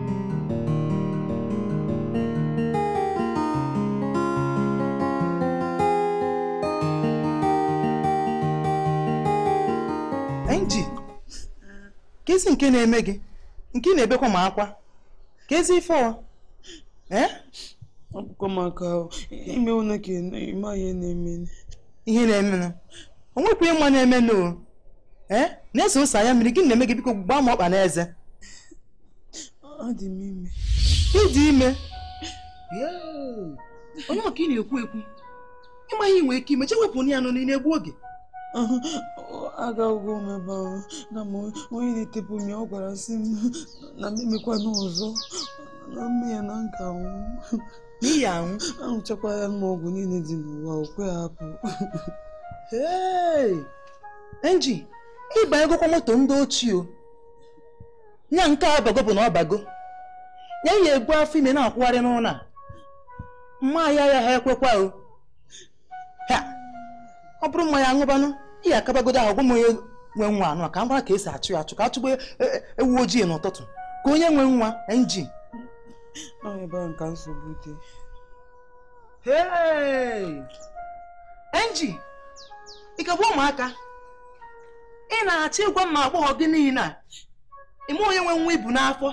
Enji, kezi nke na-eme gị nke ị na-ebekwa m akwa kezi ife ọ ee eh? akwụkwọ maka ime ụlọ ka ịma ihe na-eme ihe na-eme na o nwekwa ịma na-eme na ee eh? na-ezosa anya mmiri gịnị na-eme gị biko gbaa m ọkpa n'eze adị m ime ịdị ime onye maka ị na-ekwu ekwu ịmaghị ihe i nwe ike ime je wepụ ya nọ na-egbu oge agago m ebe ahụ na m onye na-etepụ m ya ọ gwara sị m na m emekwana ọzọ na m mee ya na m ga-anwụ n'ihi anwụ aṅụchakwala m ọgwụ niile dị n'ụwa o kwe apụ enji ị banyegokwa moto ndị ochie nya nke a bago bụ na ọ bago ya ya ebu afọ ime na-akwụgharị n'ụlọ a mma ya ya ha ekwekwa o ha ọ bụrụ mma ya ṅụbanụ ihe akabagodo ahụ gwa m onye nwe nwa nụ ka m mara ka esi achọ ya achọ ka a chọba e, e, ewu ojii n'ụtụtụ kee onye nwe nwa enji enji ị ka bụ ụmụaka ị na-achọ ịgwa m na agbọghọ gị niile a ịma onye nwe nwa i bu n'afọ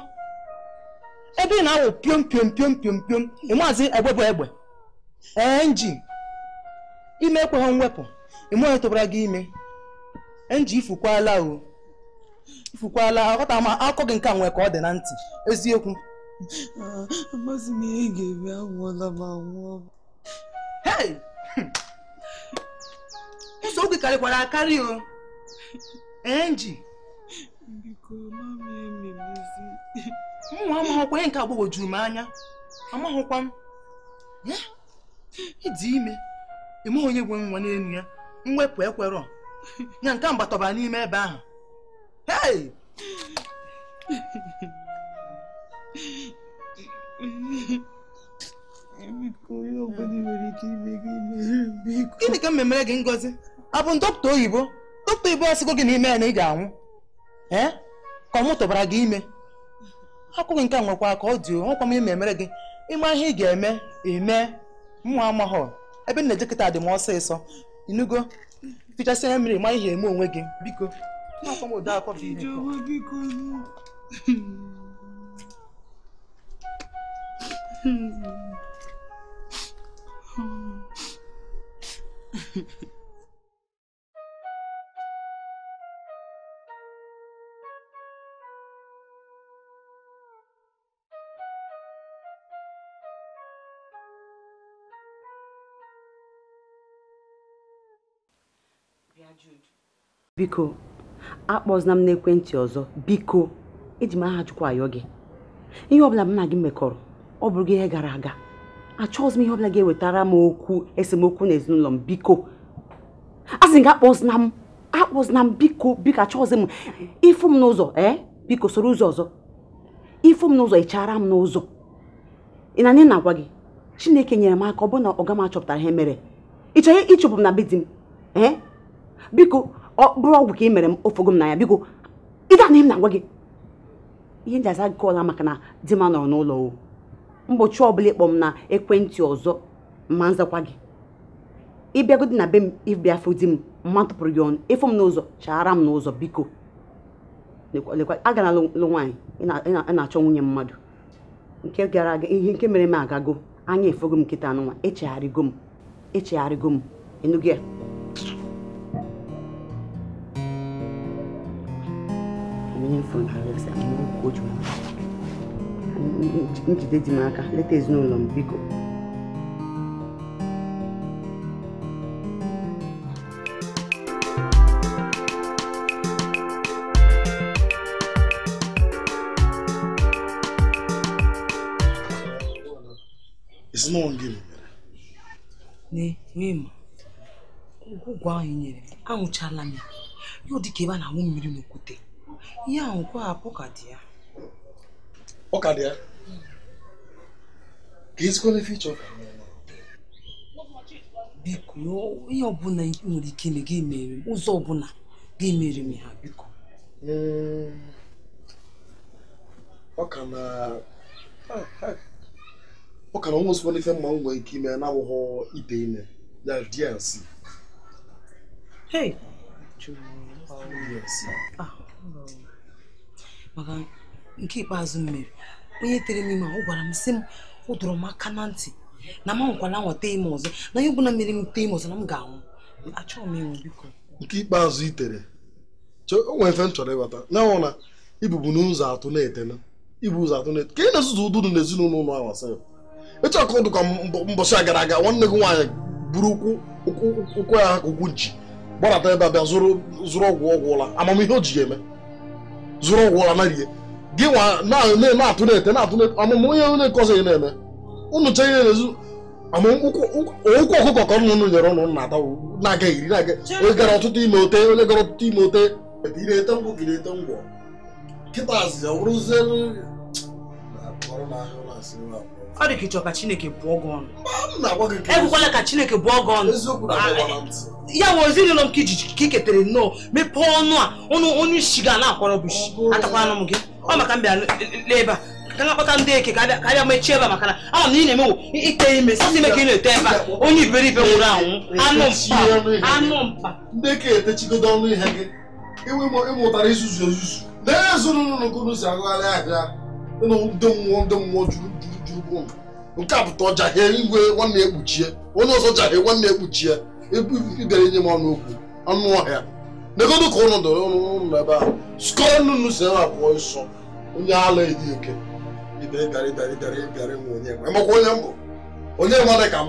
ebe ị na-awụ piom piom piom piom piom ịmaazị egbe bụ egbe enji ime ekweghị mwepụ ịma onye tụbara gị ime enji ifukwala o fukwala aghọta m akụkọ gị nke a nwee ka ọ dị na ntị eziokwu ah, amazi m ihe ga-eme anwụọla m anwụọ nsogbu gị karịkwara akarị o enji biko mama ememezi mụnwa amaghịkwa ihe nke a gbagwojuru m anya amaghịkwa m ịdị ime ịma onye nwe nwa n'elu ya mwepụ ekwerọ ya nke mgbatọba n'ime ebe ahụ hey! gịnị ka m memere gị ngozi ọ bụ dọkịta oyibo dọkịta oyibo asịgo gị na ị mee ya na ị ga-anwụ ee eh? ka ọ mụ tụbara gị ime okwu gị nke a nwekwa ka ọ dị nwekwa m ime emere gị ị ma ihe ị ga-eme eme mụnwa amaghọ ebe m na-eje kịta dị m ọsịsọ ị nụgo fichasị anya mmiri ma ihe eme onwe gị biko biko akpọzina m n'ekwentị ọzọ biko eji m aha chukwu ayọ gị ihe ọbụla m na gị mekọrọ ọ bụrụgo ihe gara aga achọghịzi m ihe ọbụla ga-ewetara m okwu esemokwu n'ezinụlọ m biko asị m gị akpọzina m akpọzina m biko biko achọghịzi m ị fụ m n'ụzọ ee eh? biko soro ụzọ ọzọ ị fụ m n'ụzọ ị chaara m n'ụzọ ị na-anụ ihe m na-agwa gị chineke nyere m aka ọ bụrụ na ọga m achọpụtara ihe mere ị chọrọ ịchụpụ m na be di m ee eh? biko ọ bụrụ ọgwụ ka ị mere m o fogo m n'anya biko ị na-anụ ihe m na-agwa gị ihe m ji aza call a maka na di m anọrọ n'ụlọ o mbọchị ọbụla ị kpọ m na ekwentị ọzọ ma m zakwa gị ị bịagodi na be m ị bịa fụ di m ma m tụpụrụ gị ọnụ ị fụ m n'ụzọ chaara m n'ụzọ biko agara lụ nwaanyị ị na-achọ nwunye mmadụ nke gara aga ihe nke mere eme agago anya efogo m kịtaa nụnwa echegharịgo m echegharịgo m ị nụgo ya ihe m fụ na arịasị m n'okwu oju m jide di m aka leta ezinụlọ m biko It's not on game. Ne, mim. ọgwụ ahụ i nyere m aṅụchala m ya ya ọ dịka ebe a na-awụ mmiri n'okwute ihe ahụ kwa apụ ka dị ya ọ ka dị ya ka ezikwala ife ị chọ biko ihe ọbụla i nwere ike ime gị mere m ụzọ ọbụla gị mere m ha biko hmm. ọ ka na ah, ah. ọ ka nwezikwanụ ife m ma nwee ike ime na-awụghọ ite ime ya DNC ah, maka nke ikpeazụ m mere onye tere m ime ọ gwara m sị m ọ dọrọ m aka na ntị na m anwakwala nweta ime ọzọ na ihe ọbụla mere m tee ime ọzọ na m ga-anwụ achọghị m ịnwụ biko nke ikpeazụ i tere o nwere ife m chọrọ ịghọta na ọ wụ na ibubu n'ụzọ atụ na-ete na i bu ụzọ atụ ka ị na-ezuzu ụdụ na ezinụlọ ụlọ ahụ asị ị chọ ka ọ dị ka mbọchị a gara aga nwanne gị nwaanyị buru ụkwụ ụkwụ ya ka ụkwụ nchi gbadata ebe a bịa zụrụ ọgwụ ọgwụ ụla amaghị m ihe o ji ya eme zụrụ ọgwụ ụla narie gị nwa na-atụ na-ete na-atụ na-ete amụmụ onye onye nke ọzọ ya na-eme ụnụ chee ihe na-ezu ụkwụ ọkụkọ ka ụnụ nyere ụnụ na-ata na-aga iri na-aga onye gara ọ tụta ime o tee onye gara ọ tụta ime o tee ete ngwọ gị na-ete ngwọ kịtazi ọ bụrụzie ọ dị ka ị chọ ka chineke bụọ gị ọnụ ekwukwala ka chineke bụọ gị ọnụ ya bụ ezinụlọ m ka iji ka ị ketere nnọọ mepee ọnụ a ọnụ onye isi ga na-akwọrọ bụ isi atakwa anụ m gị ọ maka m bịa n'ebe a ka m akpọta ndị eke ka ha bịa mechie ebe a maka na ama m na ị na-eme wụ ite ime sọsọ ime ka ị na-ete ebe a onye iberibe nwụrụ anwụ anụ mpam anụ mpam ndị eke emechigodo ọnụ ihe gị ebe ị mụtara izuzu ezuzu n'ezinụlọ n'okoro si agagharị ahịa ịnụ ndị mmụọ ndị mmụọ juru juru juru bụ nke a pụta ọja ha igwe nwanne ekpuchie onye ọzọ ja ha nwanne ekpuchie ị bịara inye m ọnụ okwu anụ ọhịa negodo ka ụnụ dọrọ ụnụ ebe ahụ skọọ nnụnụ si ebe a pụọ ọsọ onye ala ehi eke ịbịara ịbịara ịbịara ịbịara ịbịara ịnwe onye nwe makwa onye m bụ onye nwe dị ka m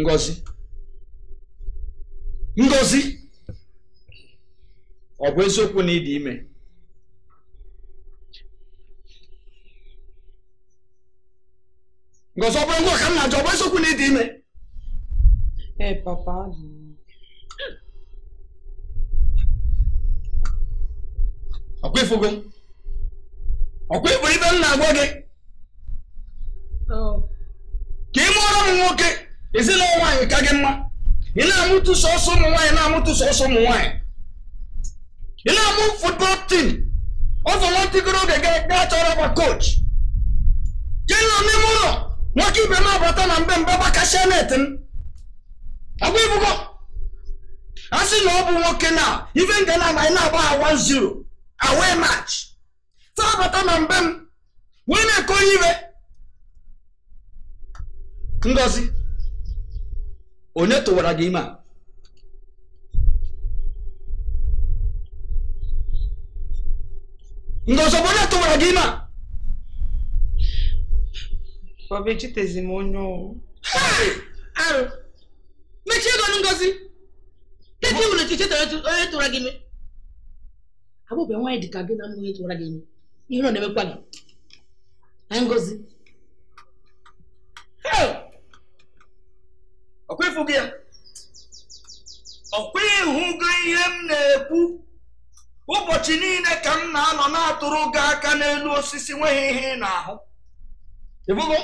Ngozi Ngozi ọ bụ eziokwu na ị dị ime ngozi ọ bụrọ gịnwa ka m na-ajụ ọ bụ eziokwu na ị dị ime ee papa ọkwa ị fụgo ọkwa ị fụrụ ife m na-agwa gị ka ị mụọrọ m nwoke ezinụlọ nwaanyị ka gị mma ị na-amụtụ sọsọ ụmụ nwaanyị na-amụtụ sọsọ ụmụ nwaanyị ị na-amụ football team ọzọ nwatigoro oge gaa chọrọ ọgba coach jee nọ n'ime ụlọ nwoke ibe m abata na be m gbakasịa net m ngwa ị fụgo a sị na ọ bụ nwoke na ife nke na-amaghị na-agba ha 1-0 away match abata na be m wee na-ekoli ibe ngozi onye tụwara gị ime a ngozi bụ onye tụwara gị ime a Papa echetazi m onye ọ bụ. arụ mechie ego ngozi kedu iwu na ị chetarọ onye tụwara gị ime abụbe nwaanyị dị ka gị na-amaghị onye tụwara gị ime ihere ọ na-emekwa gị ngozi ọkwa ị fụgo ya ọkwa ị hụgo ihe m na-ekwu ụbọchị niile ka m na-anọ na-atụrụ gị aka n'elu osisi o nweghị ihe ị na-ahụ ị fụgo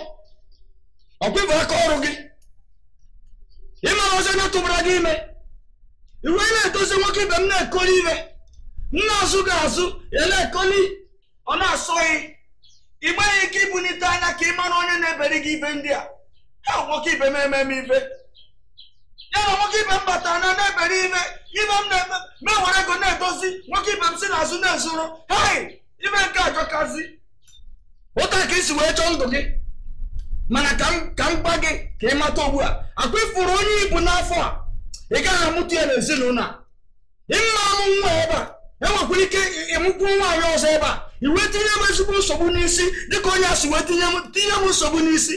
ọkwa ị fụ aka ọrụ gị ị marọzi onye tụbara gị ime m wee na-edozi nwoke ibe m na-ekoli ibe m na-azụ gị azụ ya na-ekoli ọ na-asọ gị i nweghị ike ibunite anya ka ị mara onye na-ebere gị ibe ndị a ha nwoke ibe m emee m ife ya na nwoke ibe m batara na na-ebere ibe ibe m na-eme m ewere ego na-edozi nwoke ibe m si n'azụ na-ezuru hei ife nke a jọkazị otu a ka i si wee chọọ ndụ gị mana ka m ka m gwa gị ka ị mata ugbu a ọkwa ị fụrụ onye i bu n'afọ a ị gaghị amụta ya n'ezinụlọ a ị ma-amụ nwa ebe a i nwekwara ike ịmụkwu nwaanyị ọzọ ebe a i wee tinye m ezigbo nsogbu n'isi dịka onye a si wee tinye m tinye m nsogbu n'isi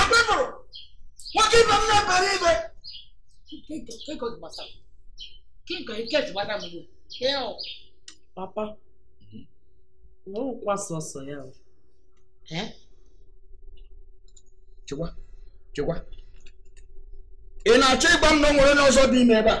akpịpụrụ nwoke ibe m na-ebere ibe papa ọ bụrọkwa sọsọ ya chekwa chekwa ị na-achọ ịgwa m na o nwere onye ọzọ dị ime ebe a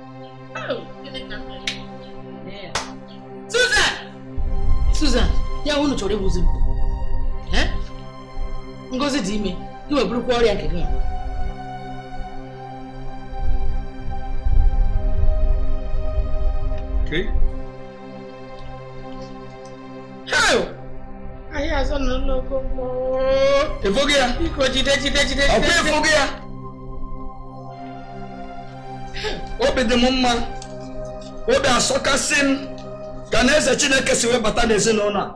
Susan! Susan, ya unu chọrọ igbuzi m. Eh? Ngozi dị ime, i wee burukwa ọrịa nke gị. Okay. ahịa azọ nọ n'ogo ị fụgo ya biko jide jide jide ọ kwa ị fụgo ya obi dị m mma obi asọkasị m ka na eze chineke si wee bata n'ezinụlọ a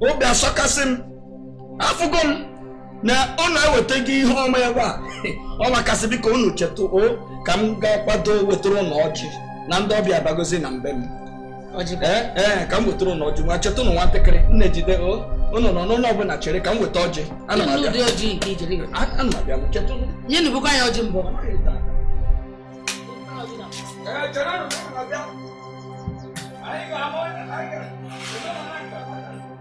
obi asọkasị m afụgo m na unu eweta gị ihe ọma ebe a ọ makasị biko unu chetụ o ka m gaa kwado wetara unu ọjị na ndị ọbịa abagozi na be m ee eh, eh, ka m wetara unu ọjị ngwa chetụ ụnụ nwatakịrị m na-ejide o ụnụ nọ n'ụlọ ọbụla chere ka m weta ọjị ana m abịa ana m abịa chetụ ụnụ nye nubukwa ya ọjị mbụ Anyị ga-ahụ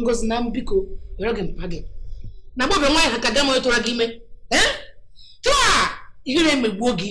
ngozi na mbiko were gị mpa gị na gbobe nwaanyị ha ka gị ma tụra gị ime ee tụa ihere emegbuo gị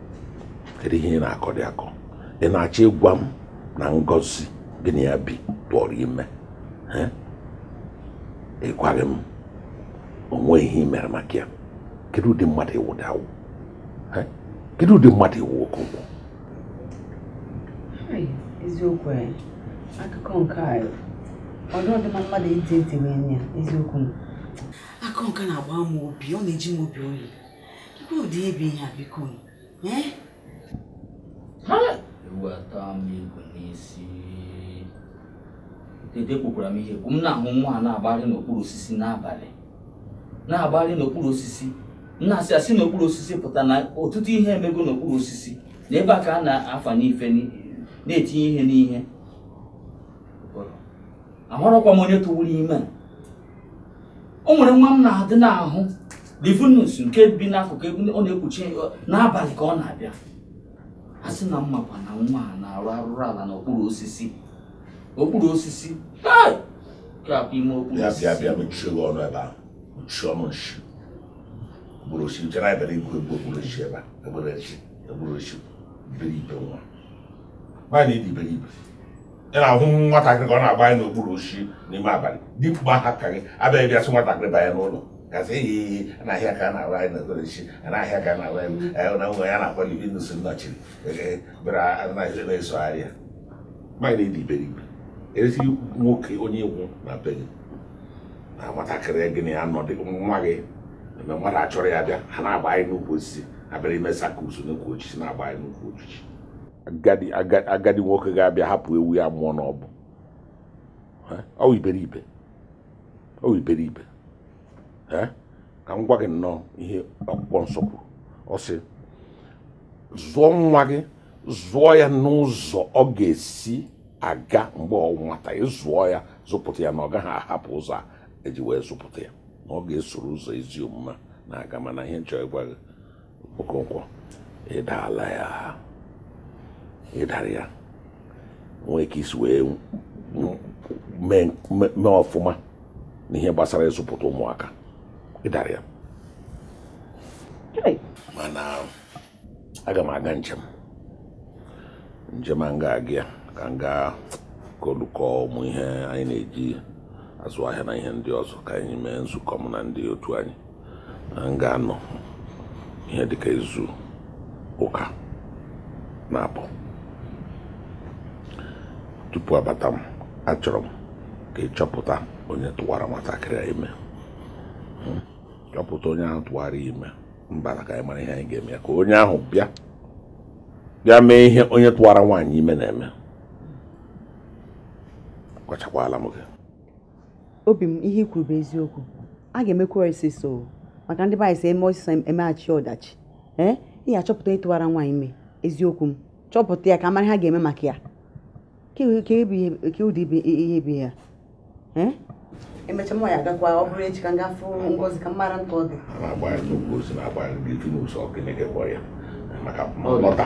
kedu ihe ị na-akọ dị akọ ị na-achọ ịgwa m na ngozi gị na ya bi tụụrụ ime ị gwaghị m o nwee ihe ị mere maka ya kedu ụdị mmadụ ị wụ dị awụ kedu ụdị mmadụ ị wụ okonkwo eziokwu akụkọ nke a ọ dị ọ dị mma mmadụ iji ntị wee nụ ya eziokwu akụkọ nke a na-agba m obi ọ na-eji m obi oyi ụdị ibe ihe a biko eh? eweta m igwe n'isi dede kwukwara m ihe bụ m na-ahụ nwa a na-agbarị n'okpuru osisi n'abalị na-agbarị n'okpuru osisi na-asị asị n'okpuru osisi pụta na ọtụtụ ihe emego n'okpuru osisi na ebe a ka a na-afanye ife na-etinye ihe n'ihe amarọkwa m onye tụwuru ime a o nwere nwa m na-adị n'ahụ livinus nke bi n'akụkụ ebe ọ na-ekpuchi n'abalị ka ọ na-abịa a sị na mmakwa na nwa a na-arụ arụrụ ala n'okpuru osisi okpuru osisi ga-abụ ime okpuru bịa bịa bịa osisi mechie gị ọnụ ebe ahụ mechie ọnụ nshi okpuru osisi i che na a bịara igwu egwu okpuru osisi ebe a egbere echi okpuru osisi iberibe nwa nwaanyị dị iberibe ị na-ahụ nwatakịrị ka ọ na-agbarị n'okpuru osisi n'ime abalị dimkpa ha ka gị abịaghị bịa sị nwatakịrị banye n'ụlọ ga-asị ehi ehi a na-ahụ ya ka ọ na-agbarị n'okpuru osisi a na-ahụ ya ka ọ na-agbarị ya na nwa a na-akpọ livinus nnọchiri ee bịara anaghị na-esogharị ya mmadụ na-adị iberibe eresi nwoke onye ị wụ na be gị na nwatakịrị gị na ya nọ dị nwa gị mgbe mmadụ achọrọ ya bịa ha na-agbarị n'ukwu osisi abịara ime zacchaeus n'ukwu osisi na-agbarị n'ukwu osisi agadi nwoke ga-abịa hapụ ewu ya amụọ n'ọgbụ ọ wụ iberibe ọ wụ iberibe ka m gwa gị nnọọ ihe akwụkwọ nsọ kwuru ọ sị zụọ nwa gị zụọ ya n'ụzọ ọ ga-esi aga mgbe ọ nwata ị zụọ ya zụpụta ya na ọ gaghị ahapụ ụzọ a eji wee zụpụta ya na ọ ga-esoro ụzọ ezi omume na-aga mana ihe m chọ ịgwa gị Okonkwo ị dala ya ị dara ya nwee ka i si wee mee ọfụma n'ihe gbasara ịzụpụta ụmụaka ị dara ya mana aga m aga njem njem a m ga-aga ya ka m gaa golukọ ụmụ ihe anyị na-eji azụ ahịa na ihe ndị ọzọ ka anyị mee nzukọ m na ndị otu anyị m ga-anọ ihe dịka izu ụka naabọ tupu abata m achọrọ m ka ị chọpụta onye tụwara nwatakịrị a ime hmm? chọpụta onye ahụ tụwara ime mbara ka anyị mara ihe anyị ga-eme ya ka onye ahụ bịa mee ihe onye tụwara nwaanyị ime na-eme agwachakwala m gị obi m ihe i kwuru bụ eziokwu a ga-emekwa ọsịsọ maka ndị be anyị sị e mee ọsịsọ emeghachi ọdachi ee ị ga-achọpụta onye tụwara nwaanyị ime eziokwu m chọpụta ya ka a mara ihe a ga-eme maka ya ke ụdị ihe bụ ya ee emecha m ya agakwa ọ bụrụ echi ka m gaa fụ Ngozi ka m mara nke ọ dị maka lọta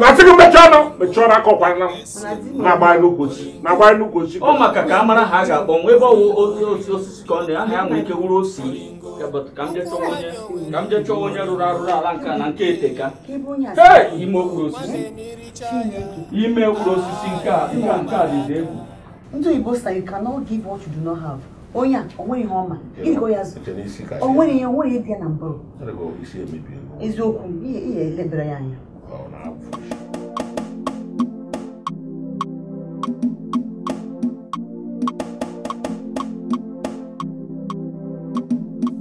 na-asị gị mechie ọnụ mechie ọnụ aka ọkwara na-agbara n'ukwu osisi na-agbara n'ukwu osisi ọ maka ka a mara aha a ga-akpọ nwa ebe ọ wụ otu osisi ka ọ dị aha ya nwere ike wụrụ Osita ka m jee chọwa onye rụrụ arụrụ ala nke na nke eteka ime okpuru osisi ime okpuru osisi nke a dịzi egwu Ndị Igbo say you cannot give what you do not have. onye a o nwere ihe ọ ma gịnị ka ọ ya-azụ o nwere ihe o nwere ihe dị ya n'ụbụrụ eziokwu ihe e lebere ya anya